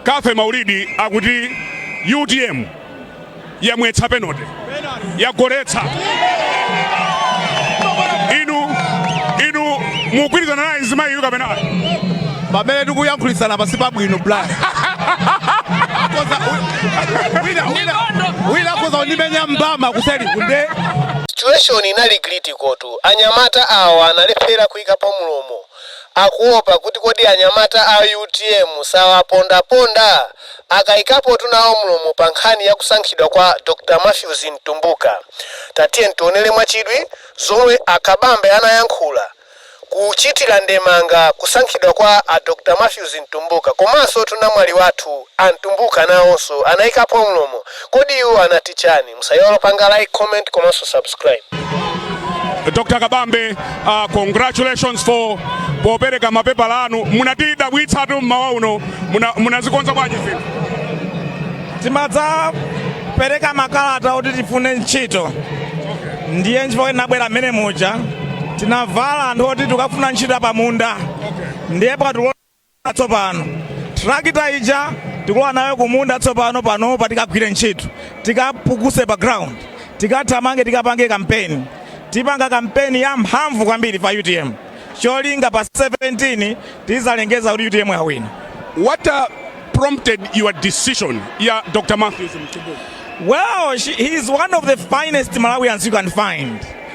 Cathy Maulidi akuti utm yamwetsa penote yagoletsa inu mugwirizana naye mzimayi yu kapena pamene tikuyankhulitsana pansi pabwino bla Akoza- wi- wina- wina- wina akoza kundimenya mbama kuseli kunde situation inali critical tu anyamata awa analephera kuyikapo mulomo akuopa kuti kodi anyamata a utm sawapondaponda? Akaikapotu nawo mlomo pa nkhani ya kusankhidwa kwa Dr Mathews Mtumbuka. Tatiyeni tionere mwachidwi zomwe a Kabambe anayankhula kuchitira ndemanga kusankhidwa kwa a Dr Mathews Mtumbuka. Komansotu namwali wathu a Mtumbuka nawonso anaikapo mlomo. Kodi iwo anati chani? Musaiwale kupanga like, comment komanso subscribe. Dr. Kabambe, uh, congratulations for popereka mapepala anu munatidabwitsatu mmawa uno munazikonza bwanji zinthu timadzapereka makalata oti tifune ntchito ndiye nchifukwa tinabwera mmene muja tinavala anthu oti tikufuna ntchito pamunda ndiye akatilola tsopano trakita ija tikulowa nayo kumunda tsopano panopa tikagwire ntchito tikapukuse pa ground tikathamange tikapange kampeni tipanga kampeni ya mphamvu kwambiri pa utm cholinga pa 17 tizalengeza kuti utm yawina What uh, prompted your decision, yeah, Dr. Mathews Mtumbuka? well she, he is one of the finest malawians you can find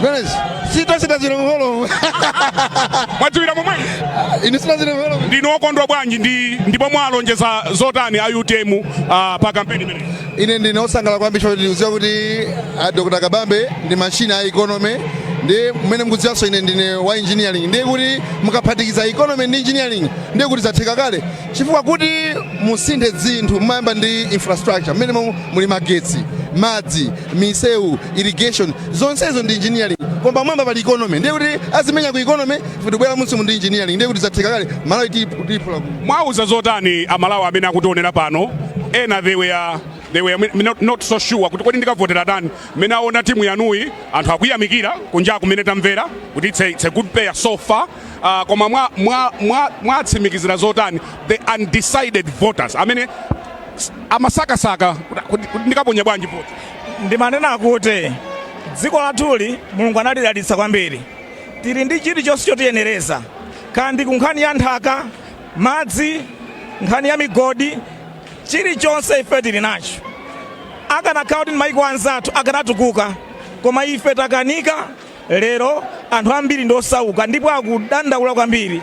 zimenezi sitachita zilongolo mwadziwira momwe inu sina zilongolo ndinu okondwa bwanji ndi ndipo mwalonjeza zotani a utm uh, pa kampeni imeneyi ine ndine osangala kwambiri choti ndikudziwa kuti ah, dr kabambe ndi mashini a economy ndi mmene mukudziwanso ine ndine wa engineering ndiye kuti mukaphatikiza economy ndi engineering ndiye kuti zatheka kale chifukwa kuti musinthe zinthu mumayamba ndi infrastructure mmenemo muli magetsi madzi misewu irrigation zonsezo ndi engineering koma pamwamba pali economy ndiye kuti azimenya ku economy futi kubwera munsimu ndi engineering ndiye kuti zatheka kale malawi tiyiphula ku mwauza zotani amalawi amene akutionera pano ena they were they were mi- not, not so sure kuti kodi ndikavotera ndani mmene aona timu yanuyi anthu akuyamikira kunja kumene tamvera kuti it's a, it's a good pair so far uh, koma mwa- mwa- mwa- mwatsimikizira zotani the undecided voters amene s- amasakasaka kuti- kuti kuti ndikaponya bwanji voti ndimanena kuti dziko lathuli mulungu analidalitsa kwambiri tili ndi chilichonse chotiyenereza kaya ndi ku nkhani ya nthaka madzi nkhani ya migodi chilichonse ife tili nacho akanakhala kuti ndi maiko anzathu akanatukuka koma ife takanika lero anthu ambiri ndi osauka ndipo akudandaula kwambiri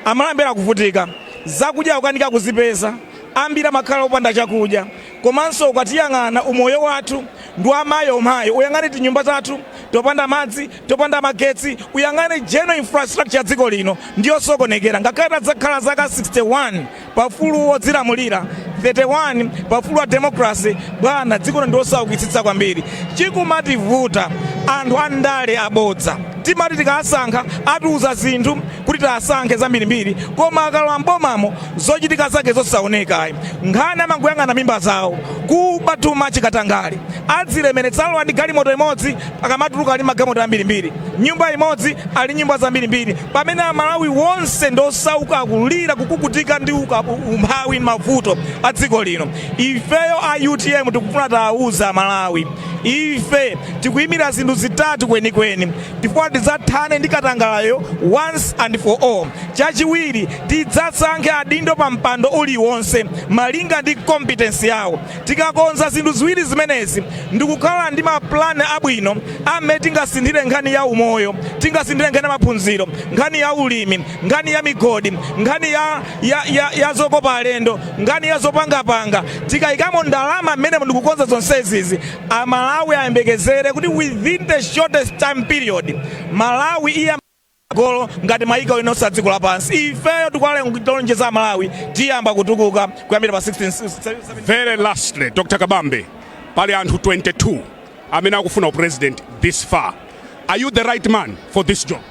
aMalawi akuvutika zakudya akukanika kuzipeza ambiri amakhala opanda chakudya komanso ukatiyang'ana umoyo wathu ndi womvetsa chisoni uyang'ane tinyumba tathu topanda madzi topanda magetsi uyang'ane general infrastructure ya dziko lino ndiyosokonekera ngakhale takhala zaka 61 pa ufulu wodzilamulira 31 pa ufulu wa democracy bwana dziko lino ndi losaukitsitsa kwambiri chikumativuta anthu andale abodza timati tikawasankha atiuza zinthu kuti tiwasankhe zambirimbiri koma akalowa mbomamo zochitika zake zosaoneka ayi nkhani amangoyang'ana mimba zawo kuba kuchita katangale adzilemeretsa alowa ndi galimoto imodzi akamatuluka ali ndi magalimoto ambirimbiri nyumba imodzi ali ndi nyumba zambirimbiri pamene amalawi wonse ndosauka akulira kukukutika ndi uka- umphawi ndi mavuto a dziko lino ifeyo a utm tikufuna tawauza amalawi ife tikuyimira zinthu zitatu kwenikweni tikufuna tidzathane ndi katangalayo once and for all. Chachiwiri, tidzasankhe adindo pa mpando uliwonse malinga ndi competence yawo. Tikakonza zinthu ziwiri zimenezi ndi kukhala ndi ma plan abwino a mmene tingasinthire nkhani ya umoyo, tingasinthire nkhani ya maphunziro, nkhani ya ulimi, nkhani ya migodi, nkhani ya, ya, ya, ya zokopa alendo, nkhani ya zopangapanga. Tikayikamo ndalama mmenemo ndi kukonza zonsezizi, A Malawi ayembekezere kuti within the shortest time period Malawi iyamba kupita patsogolo ngati mayiko ena onse a dziko lapansi. Ifeyo tikuwalonjeza a Malawi tiyamba kutukuka kuyambira pa 16 se- se- 17 Very lastly, Dr. Kabambe, pali anthu 22 amene akufuna u president this far. Are you the right man for this job?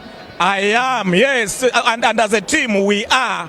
I am, yes. And, and as a team, we are.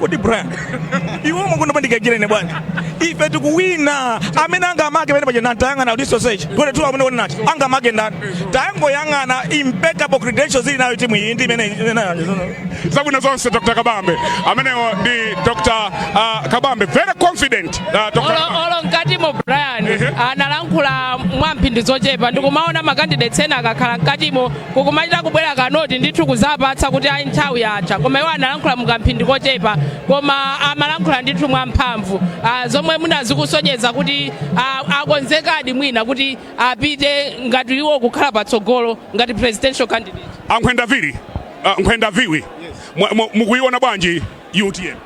kodi brian iwe umakonda pandikajira ine bwana ife tikuwina amene angamake pene paja tayang'ana research 22 amene wona nati angamake ndani tayangoyang'ana impeccable credentials ili nayo timu iyi ndi imene zabwino zonse dr kabambe amenewo ndi dr uh, kabambe very confident uh, dr Olo- Kabambe. olo mkati mo brian analankhula kwa mphindi zochepa ndikumaona makandidates ena akakhala mkatimo kukumachita kubwera kanoti ndithu kuzapatsa kuti ayi nthawi yatha koma iwo analankhula mukamphindi kochepa koma amalankhula ndithu mwamphamvu ah, zomwe mwina zikusonyeza kuti ah, akonzekadi mwina kuti apite ngati iwo kukhala patsogolo ngati presidential candidate ankhwenda vili uh, nkhwenda viwi Mwa- mwa- mukuiona bwanji utm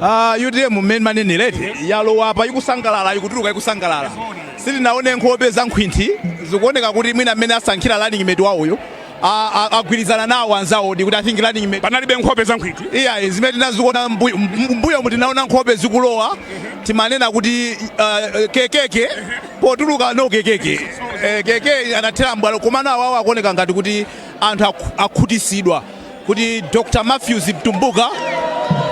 Ah, utm mmene manenera eti yalowa apa ikusangalala ikutuluka ikusangalala sitinaone nkhope za nkhwinthi zikuoneka kuti mwina mmene asankhira running mate wawoyo a- a- agwirizana nawo anzawo ndi kuti i think running mate panalibe nkhope za nkhwinthi iya zimene tinaziona mbuyo- mbuyomu tinaona nkhope zikulowa timanena kuti uh, kekeke potuluka no kekeke Eh, keke anathera mbwalo komano awawo akuoneka ngati kuti anthu akhu- akhutisidwa kuti Dr. Matthews Mtumbuka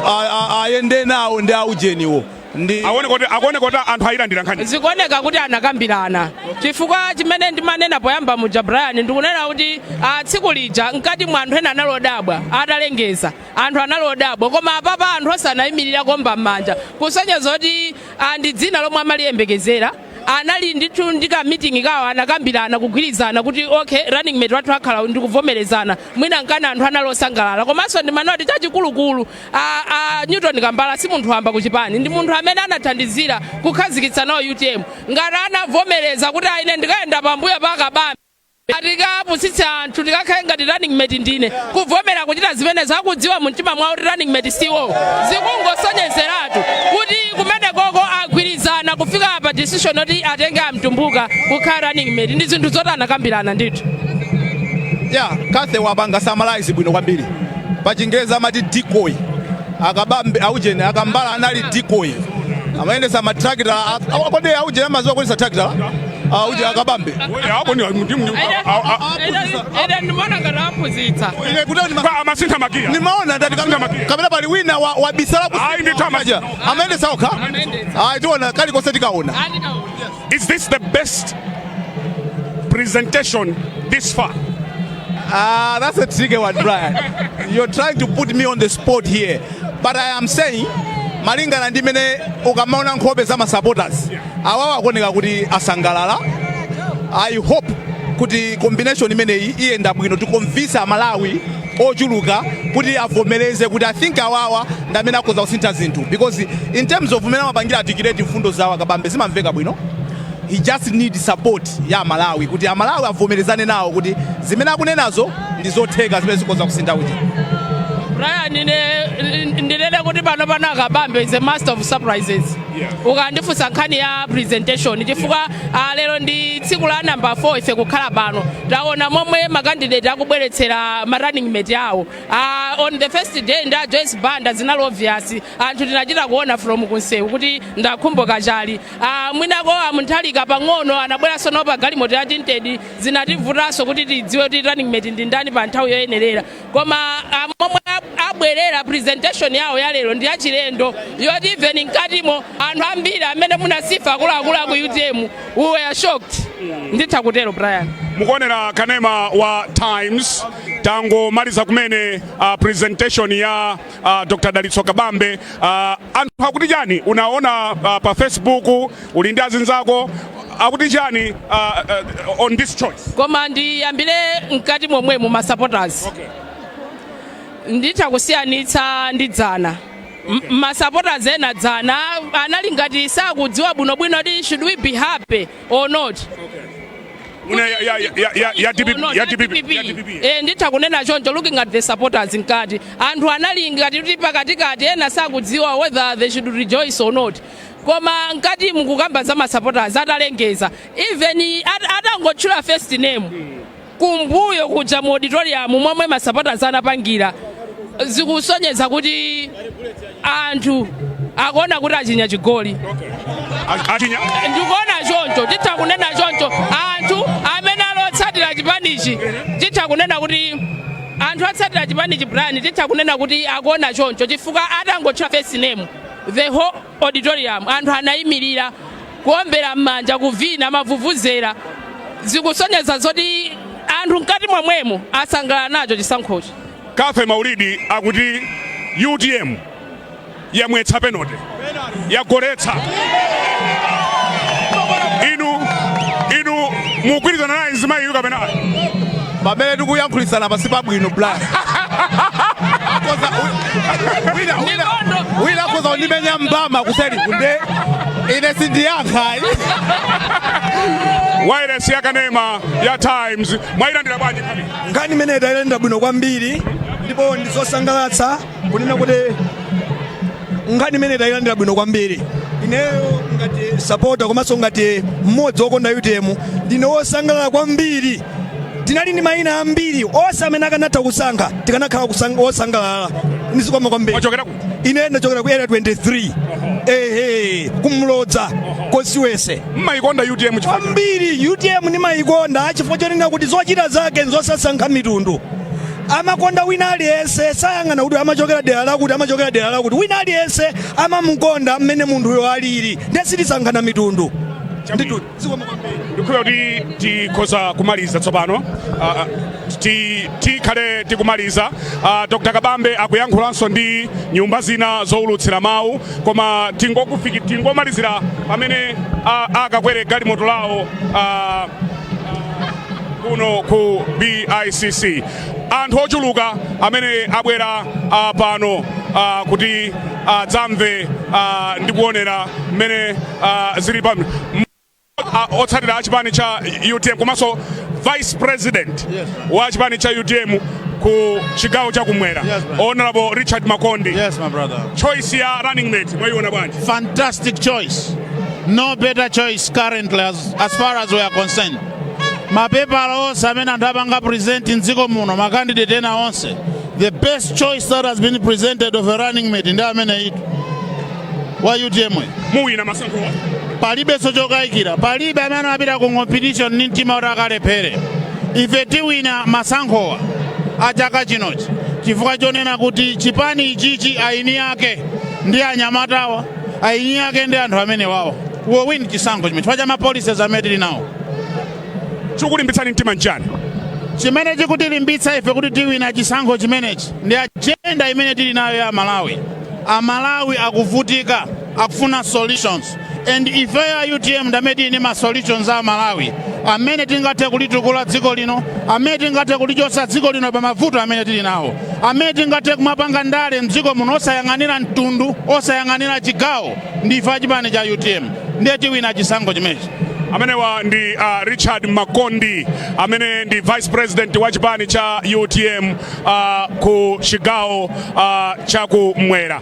a- a- ayende nawo ndi aujeniwo ndi akuoneka kuti akuoneka kuti anthu ayilandira nkhani zikuoneka kuti anakambirana chifukwa chimene ndimanena poyamba muja brian ndikunena kuti ah, tsiku lija mkati mwa anthu ena anali odabwa atalengeza anthu anali odabwa koma apapa anthu onse anayimirira kuomba m'manja kusonyeza kuti ah, ndi dzina lomwe amaliyembekezera anali ndithu ndi kamitingi kawo anakambirana kugwirizana kuti okay running mate wathu akhala ndikuvomerezana mwina nkana anthu anali osangalala komanso ndimaona kuti chachikulukulu a, a newton kambala si munthu wamba kuchipani ndi munthu amene anathandizira kukhazikitsa nawo utm ngati anavomereza kuti aine ndikayenda pambuyo pa kabambe atikapusitsa anthu tikakhale ngati running mate ndine kuvomera kuchita zimene akudziwa mu mtima mwawo kuti running mate siwo zikungosonyezeratu kuti kumenekoko agwirizana kufika pa decision yoti atenge amtumbuka kukhala running mate ndi zinthu zoti anakambirana ndithu ya cathy wapanga summarize bwino kwambiri pa chingerezi amati decoy akabambe aujeni akambala anali decoy amayendesa matrakita kodi aujeni amadziwa kuyendesa trakita auje akabambe apo ndi ndi- ndi- a- a- a- ede ndimona ngati aphunzitsa Ine kuti ndima- pa- amasintha makiya nimaona ndati Sintha makiya. kapena pali wina wa- wabisala ku- Ayi, ndithu amasi- amayendesa okha ayi tiona kalikonse tikaona Andikaona. Is this the best presentation this far? Ah, that's a tricky one, Brian. You're trying to put me on the spot here. But I am saying, malingana ndi mmene ukamaona nkhope za masupporters awawa akuoneka kuti asangalala i hope kuti combination imeneyi iyenda bwino to convince amalawi ochuluka kuti avomereze kuti i think awawa ndi amene akhoza kusintha zinthu because in terms of mmene amapangira articulate mfundo zawo akabambe zimamveka bwino he just need support ya amalawi kuti amalawi avomerezane nawo kuti zimene akunenazo ndi zotheka zimene zikhoza kusintha kuti Brian, ine- ndinene kuti pano pano akabambe is a master of surprises Yeah. ukandifunsa nkhani ya presentation chifukwa ah, lero ndi tsiku la namba 4 ife kukhala pano taona momwe makandidate akubweretsera ma running mate awo Ah, on the first day ndi a joyce banda zinali obvious anthu tinachita kuona from kunsewu kuti nda khumbo kachali Ah, mwinako amutharika pang'ono anabweranso nawo pa galimoto ya tinted zinativutanso kuti tidziwe kuti running mate ndi ndani pa nthawi yoyenerera koma ah, momwe ab- abwerera presentation yawo ya lero ndi yachilendo yoti even mkatimo anthu ambiri amene muna Sifa akuluakulu aku utm we were shocked nditha kutero brian mukuonera kanema wa times tangomaliza kumene uh, presentation ya uh, Dr. Dalitso Kabambe uh, anthu akuti chani unaona uh, pa Facebook uli ndi azinzako akuti chani uh, uh, on this choice koma ndiyambire mkati momwe mu, masupporters okay. nditha kusiyanitsa ndi dzana okay. masupporters ena dzana anali ngati sakudziwa bwinobwino kuti should we be happy or not Una ya ya ya ya ya DPP No, ya ya DPP. DPP. ya DPP. Eh, nditha kunena choncho looking at the supporters mkati anthu anali ngati kuti pakatikati ena sakudziwa whether they should rejoice or not koma mkatimu kukamba za masupporters atalengeza even at- atangotchula first name Kumbuyo kuja mu auditorium momwe ma supporters anapangira zikusonyeza kuti anthu akuona kuti achinya chigoli A- Achinya. ndikuona choncho titha kunena choncho anthu amene ali otsatira chipanichi titha kunena kuti anthu otsatira chipanichi brian titha kunena kuti akuona choncho chifukwa atangotchula first name the whole auditorium anthu anayimirira kuombera m'manja kuvina mavuvuzera zikusonyeza zoti anthu mkati momwemo asangalala nacho chisankhochi cathy maulidi akuti utm yamwetsa penote yagoletsa inu inu mugwirizana naye mzimayiyu kapena ayi? pamene tikuyankhulitsana si pabwino brian Akoza- wi- wina- wina- wina akhoza kundimenya mbama kuseri kuno nde ine sindiyankha wairesi yakanema ya times mwayilandira bwanji nkhani imeneyi tayilandira bwino kwambiri ndipo ndizosangalatsa kunena kuti nkhani imene tayilandira bwino kwambiri ineyo ngati sapota komanso ngati mmodzi wokonda utm ndine wosangalala kwambiri tinali ndi mayina ambiri onse amene akanatha kusankha tikanakhala kusang- wosangalala ndizikoma kwambiri Wachokera kuti? ine ndachokera ku area 23 ehe ku mlodza konko mmayikonda utm chifukwa kwambiri utm ndimayikonda chifukwa chonena kuti zochita zake nzosasankha mitundu amakonda wina aliyense sayang'ana kuti amachokera dera lakuti amachokera dera lakuti wina aliyense amamukonda mmene munthuyo alili ndiye sitisankhana mitundu Ndithu, zikomo kwambiri. ndikhulupirira kuti tikhoza kumaliza tsopano Ah, ah, ti- tikhale tikumaliza Ah, dr kabambe akuyankhulanso ndi nyumba zina zowulutsira mawu koma tingokufiki- tingomalizira pamene ah, akakwere galimoto lawo ah, kuno ku BICC anthu ochuluka amene abwera ah, pano ah, kuti adzamve ah, ndi kuonera mmene ah, zili pa ah, otsatira a chipani cha utm komanso vice president Yes. wa chipani cha utm ku chigawo cha kumwera Yes, ma'am. honorable richard makondi Yes, my brother. choice ya running mate mwaiona bwanji Fantastic choice. No better choice currently as, as far as we are concerned. mapepala onse amene anthu apanga present mdziko muno makandidate ena onse the best choice that has been presented of a running mate ndi ameneyutu wa utm muwina masankho palibenso chokayikira palibe amene amapita ku competition ndi mtima kuti akalephere ife tiwina masankhowa a chaka chinochi chifukwa chonena kuti chipani ichichi aini ake ndi anyamatawa ayinyi ake ndi anthu amenewawo tiwina chisankho chimenechi chifukwa cha mapolicies amene tili nawo chikulimbitsani mtima nchani chimene chikutilimbitsa ife kuti tiwina chisankho chimenechi ndi ajenda imene tili nayo ya amalawi amalawi akuvutika akufuna solutions and ifeyo a utm ndamene tili ndi ma solutions a amalawi amene tingathe kulitukula dziko lino amene tingathe kulichotsa dziko lino pa mavuto amene tili nawo amene tingathe kumapanga ndale mdziko muno osayang'anira mtundu osayang'anira chigawo ndife achipani cha utm ndiye tiwina chisankho chimenechi amenewa ndi uh, richard makondi amene ndi vice president wa chipani cha utm uh, ku chigawo uh, cha kumwera